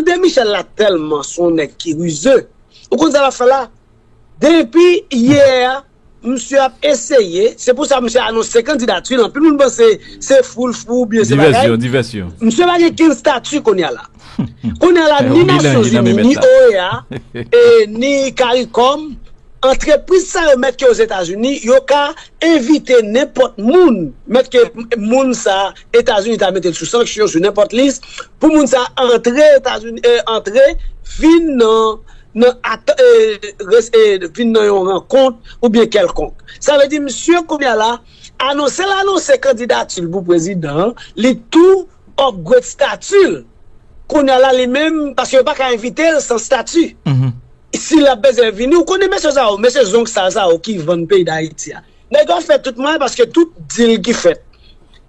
André Michel la tèlman son nèg ki rize, ou konn sa lap fè la? Denpi yè a misye ap eseye, se pou sa misye anonse kandidatil, anpil moun panse se fou l fou oubyen se bagay, misye pa gen kenn stati kounya la. Kounya la ni Nasyonzini, ni OEA, ni Caricom, antrepriz sa yo mèt ke Ozetazini, yo ka envite nenpòt moun, mèt ke moun sa. Etazini ta mete l sou sanksyon, sou nenpòt lis, pou moun sa a antre Etazini, antre, vin nan, nan at, e, res, e, vin nan yon rankont oubyen kèlkonk. Sa vle di misye kounye a la, anonse l anonse kandidati l pou prezidan an, li tou upgrade stati l. Kounye a la li menm, paske yo pa ka envite l san stati. Si l ap bezwen vini, ou konnen mesye sa yo, mesye zong sal sa yo ki vann peyi Dayiti a. Nèg yo fè tout mwayen paske tout dil ki fèt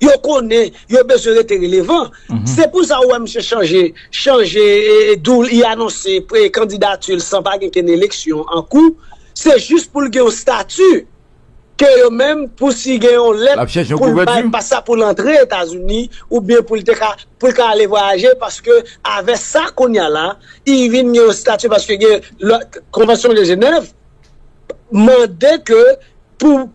yo konnen yo bezwen rete relevan se pou sa ou wè misye chanje chanje dou l li anonse kandidati l san pa gen kenn eleksyon an kou se jis pou l gen yon stati ke yo menm pou si gen yon lèt pou l bay pa sa pou l antre etazini oubyen pou l te ka pou l ka ale vwayaje paske avè sa kounya la li vin gen yon stati paske gen konvansyon de jenèv. mande ke pou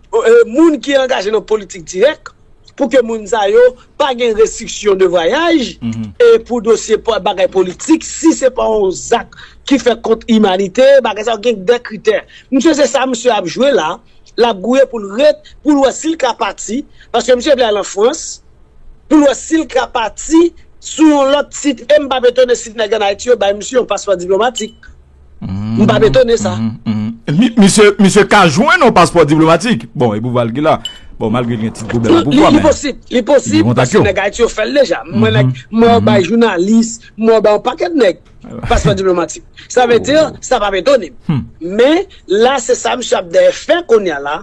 moun ki angaje nan politik dirèk, pou ke moun sa yo pa gen restriksyon de vwayaj, e pou dosye bagay politik, si se pa yon zak ki fèt kont imanite, bagay sa yo gen de kritè. Misye se sa misye ap jwe la, l ap gouye pou l ret, pou l wè si l ka pati, paske misye vle al an Frans, pou l wè si l ka pati sou yon lòt tit, e m p ap etone si nèg an Ayiti yo bay misye yon paspò diplomatik. M pa betone sa. Misye ka jwenn yon paspò diplomatik? Bon, e pouvwa l ki la. Bon, malgre l gen ti pwoblèm ak pouvwa, men. Li posib. Li posib. Paske nèg Ayiti yo fè l deja. Mwen nèk, mwen yo bay jounalis, mwen yo bay yon pakèt nèg paspò diplomatik. Sa vle di, sa pa betone m. Men, la se sa misye ap dèyè fè kounye a la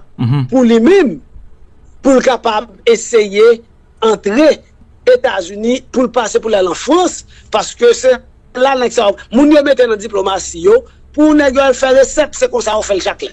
pou li menm, pou l kapab eseye. antre Etazini pou l pase pou l al an Frans paske se la nèg sa yo moun yo mete nan diplomasi yo pou nèg yo al fè resèt se konsa yo fè l chak lè.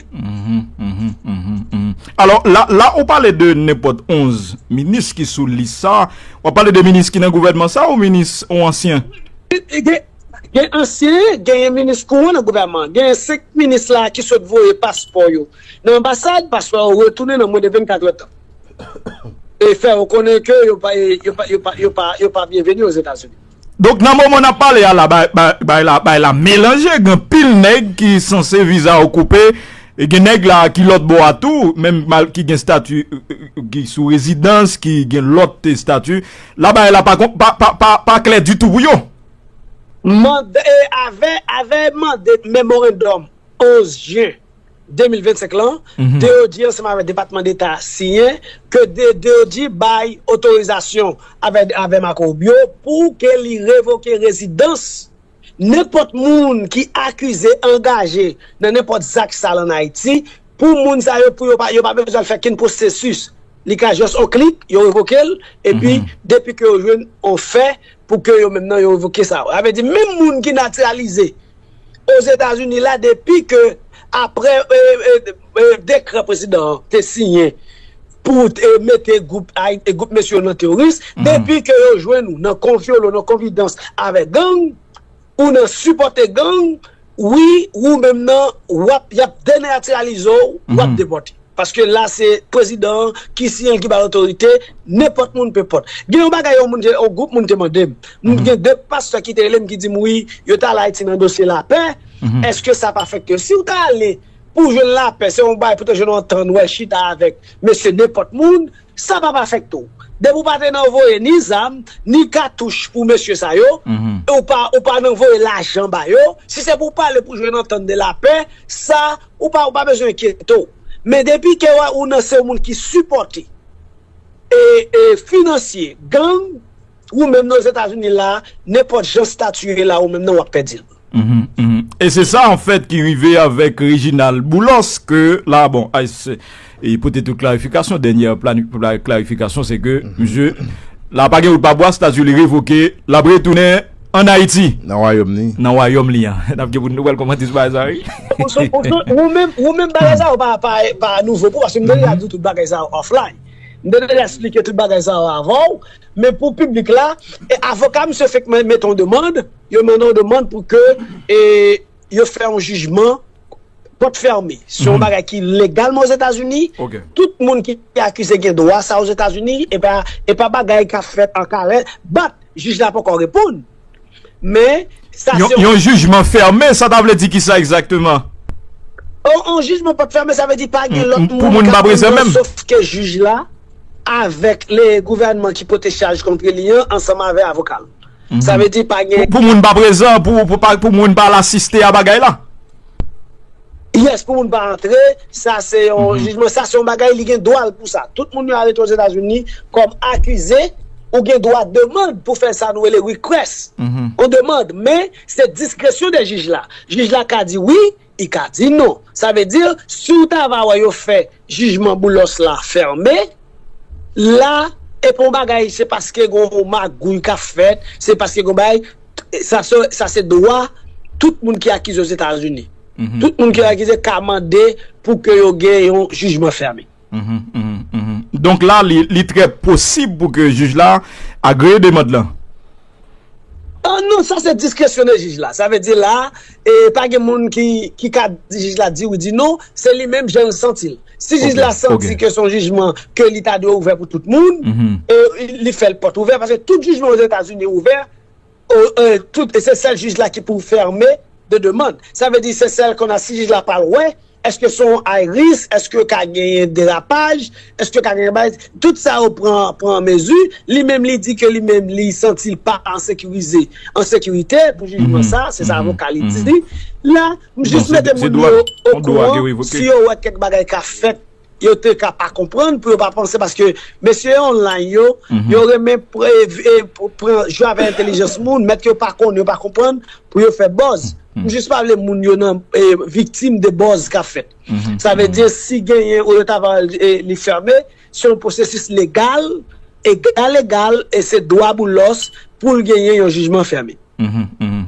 Alò la ou pale de nenpòt 11 minis ki sou lis sa w ap pale de minis ki nan gouvènman sa ou minis ou ansyen? Gen ansyen genyen minis kouran nan gouvènman genyen 5 minis la ki sot voye paspò yo. Nan anbasad, paswa yo retounen nan mwen de 24 èdtan e fè yo konnen ke yo pa byenveni Ozetazini. Donk nan moman n ap pale a la, bagay la melanje, gen anpil nèg ki sanse viza yo koupe, e gen nèg la ki lòt bò a tou, menm ki gen stati, ki sou rezidans, ki gen lòt estati, la bagay la pa klè ditou pou yo. Mande, avè mande memorandòm 11 jen. 2025 lan, DOD ansanm avèk Depatman Deta a siyen ke DOD bay otorizasyon avè Marco Rubio pou ke li revoke rezidans nenpòt moun ki akize angaje nan nenpòt zak sal an Ayiti pou moun sa yo pou yo pa bezwen al fè kenn pwosesis li ka just on klik yo revoke l epi depi ke yo jwenn on fè pou ke yo menm nan yo revoke sa yo sa vle di menm moun ki natiralize Ozetazini la depi ke apre dekrè prezidan an te siyen pou mete gwoup mesye yo nan teworis, depi ke yo jwenn ou nan konfyolo, nan konfidans avèk gang, ou nan sipòte gang, wi, ou menm nan, wap, yap denatiralize w, wap depòte. Paske la se prezidan an ki siyen l ki bay otorite, nenpòt moun pe pot. Gen yon bagay yon moun te, yon gwoup moun te mande m. M gen 2 pastè ki te rele m ki di m wi, yo t al Ayiti nan dosye lapè, èske sa pa fèk yo? Si w ta ale pou w jwenn lapè, se yon bagay pou w te jwenn yon antant wè, chita avèk mesye nenpòt moun, sa pa pa fèk tou. Depi w pa te nan voye ni zam, ni katouch pou mesye sa yo, e w pa nan voye lajan ba yo, si se pou w pale pou w jwenn antant de lapè, sa. Ou pa ou pa bezwen enkyete w. Men depi ke ou nan se yon moun ki sipòte e e finansye gang ou menm nan Ozetazini la a, nenpòt jan stati ye la ou menm nan wap pèdi l. E se sa anfèt ki rive avèk Reginald Boulos ke la bon, e pote tout klarifikasyon. Dènyè klarifikasyon se ke misye la pa gen wout pa bwa, stati li revoke, l ap retounen an Ayiti. Nan wayòm li. Nan wayòm li an. N ap gen pou nou wè l kòmante sou bagay sa a wi. Ou menm bagay sa yo pa nouvo pou ou paske m te deja di w tout bagay sa yo offline. M te deja esplike tout bagay sa yo avan w. Men pou piblik la, avoka misye fèk mete yon demand, yo mande yon demand pou ke yo fè yon jijman pòt fèmen. Se yon bagay ki legal men Ozetazini. Tout moun ki akize gen dwa sa Ozetazini. E pa bagay ka fèt an kare. Bat, jij la poko reponn. Men, sa se yon... Yon jijman fèmen, sa ta vle di ki sa egzakteman? Yon jijman pòt fèmen, sa vle di pa gen lòt moun ka prezè menm. Sof ke jij la, avèk le gouvènman ki pote chaj kontre li an, ansanm avè avokal. Sa vle di pa gen. Pou moun pa prezan, pou moun pa al asiste a bagay la? Yes, pou moun pa antre, sa se yon jijman, sa se yon bagay li gen dwa l pou sa. Tout moun yo arete Ozetazini kòm akize, ou gen dwa demand pou fè sa nou rele request, yon demand, men se diskresyon de jij la. Jij la ka di wi, I ka di non. Sa vle di, si w ta va wè yo fè jijman Boulos la fèmen, la, e pa yon bagay se paske gen yon magouy k ap fèt, se paske gen yon bagay, sa se dwa tout moun ki akize Ozetazini. Tout moun ki akize ka mande pou ke yo gen yon jijman fèmen. Donk la li trè posib pou ke jij la agree demand lan? Non, sa se diskresyone jij la. Sa vle di la, pa gen moun ki ka di jij la di wi di non, se li menm jan l santi l. Si jij la santi ke son jijman ke li ta dwe ouvè pou tout moun, li fè l pòt ouvè, paske tout jijman o Zetazini ouvè. tout e se sèl jij la ki pou fèmen de demand sa vle di se sèl kon a si jij la pa lwen eske se yon ay ris eske yo ka genyen derapaj eske ka genyen bay tout sa yo pran pran mezi li menm li di ke li menm li santi l pa an sekirize an sekirite pou jijman sa se sa avoka li di la m jis mete moun yo okouran si yo wè kèk bagay ka fèt. Yo te ka pa konprann pou yo pa panse paske mesye online yo, yo renmen pran jwe avèk entelijans moun, mèt yo pa konnen, yo pa konprann pou yo fè buzz. M jis pa vle moun yo nan viktim de buzz k ap fèt. Sa vle di si genyen ou yo ta va li fème, se yon pwosesis legal, egal egal e se dwa Boulos pou l genyen yon jijman fème.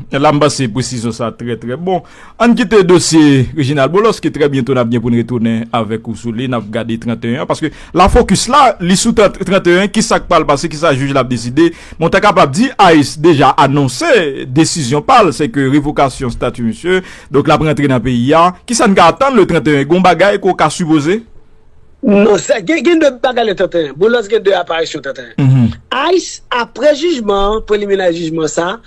Ela m panse presizyon sa trè trè bon. Ann kite dosye Reginald Boulos ke trè byento n ap gen pou n retounen avèk ou sou li, n ap gade 31 an, paske la fokis la li sou 31 an, kisa k pral pase, kisa jij la ap deside. Men w ta kapab di ice deja anonse desizyon pa l, se ke revokasyon stati misye, donk l ap rantre nan peyi a. Kisa n ka atann le 31? Gon bagay ke w ka sipoze? Non sa gen gen 2 bagay le tenten an. Boulos gen 2 aparisyon tenten an. Ice apre jijman an, preliminary jijman sa,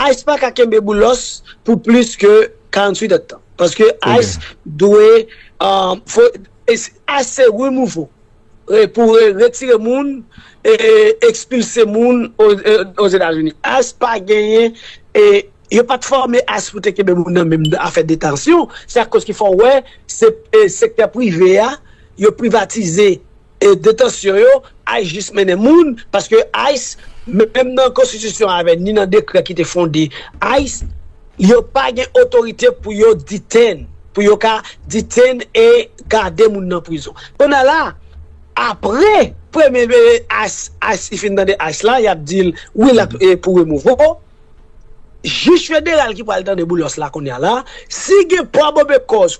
ice pa ka kenbe Boulos pou plis ke 48 èd tan. Paske ice dwe ice se removal pou retire moun e expulse moun o Zetazini. Ice pa genyen Yo pat fòme ice pou te kenbe moun nan menm afè detansyon, se akoz ki fè w wè se sektè prive a, yo privatize detansyon yo, ice jis mennen moun, paske ice menm nan konstitisyon avè ni nan dekrè ki te fonde ice, yo pa gen otorite pou yo detain, pou yo ka detain e gade moun nan prizon. Kounye a la, apre premye ice, ice li fin tande ice la, y ap di l wi l ap pou remove w, Jij federal ki pral tande Boulos la kounya la, si gen pwa bobe kòz